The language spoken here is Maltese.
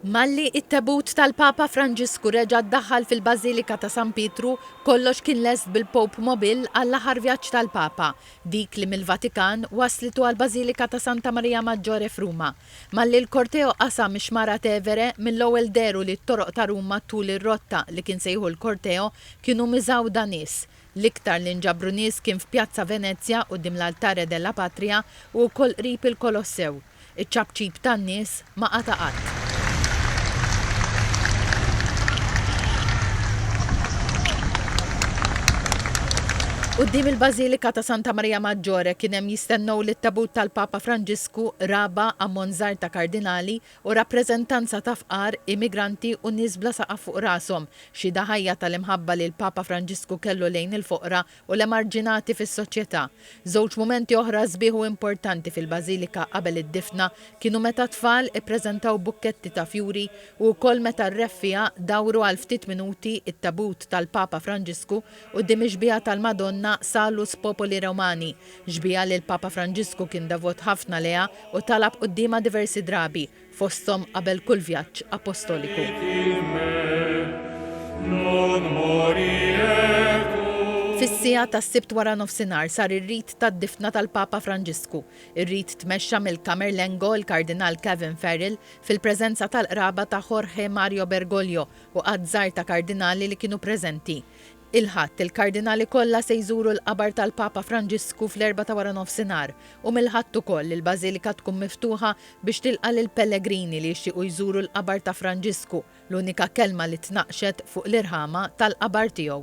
Malli it-tebut tal-Papa Franġisku reġa' ddaħħal fil-Bażilika ta' San Pietru, kollox kien lest bil-Pope Mobil għall-aħħar vjaġġ tal-Papa, dik li mill-Vatikan wasslitu għall-Bażilika ta' Santa Maria Maggiore f'Ruma. Malli l-korteo qasam ix-Xmara Tevere, mill-ewwel dehru li t-toroq ta' Ruma tul ir-rotta li kien se jieħu l-korteo kienu miżgħuda nies. L-iktar li nġabru nies kien f'Pjazza Venezia, quddiem l-Altare della Patria u wkoll qrib il-Kolossew. Iċ-ċapċip tan-nies ma qata' qatt. Quddiem il-Bażilika ta' Santa Marija Maggiore kien hemm jistennew lit-tabut tal-Papa Franġisku, Raba, ammont żgħir ta' Kardinali u rappreżentanza ta' fqar, immigranti u nies bla saqaf fuq rashom, xhieda ħajja tal-imħabba li l-Papa Franġisku kellu lejn il-foqra u l-emarġinati fis-soċjetà. Żewġ mumenti oħra sbieħ u importanti fil-bażilika qabel id-difna kienu meta t-tfal ippreżentaw bukketti ta' fjuri u wkoll meta r-Re Fiha dawru għal ftit minuti t-tabut tal-Papa Franġisku quddiem ix-xbieha tal-Madonna Salus Populi Romani, xbieha li l-Papa Franġisku kien devot ħafna lejha u talab quddiemha diversi drabi. fosthom qabel kull vjaġġ appostoliku. Fis-siegħa tas-Sibt waranofsinhar sar ir-rit tad-difna tal-Papa Franġisku. Ir-rit tmexxa mill-Camerlengo, il-Kardinal Kevin Farrell, fil-preżenza tal-qraba ta' Jorge Mario Bergoglio u għadd żgħir ta' kardinali li kienu preżenti. Il-Ħadd, il-Kardinali kollha se jżuru l-qabar tal-Papa Franġisku fl-erbgħa ta' waranofsinhar u mill-Ħadd ukoll il-Bażilika tkun miftuħa biex tilqa' lill-pellegrini li jixtiequ jżuru l-qabar ta' Franġisku, l-unika kelma li tnaqqxet fuq l-irħama tal-qabar tiegħu.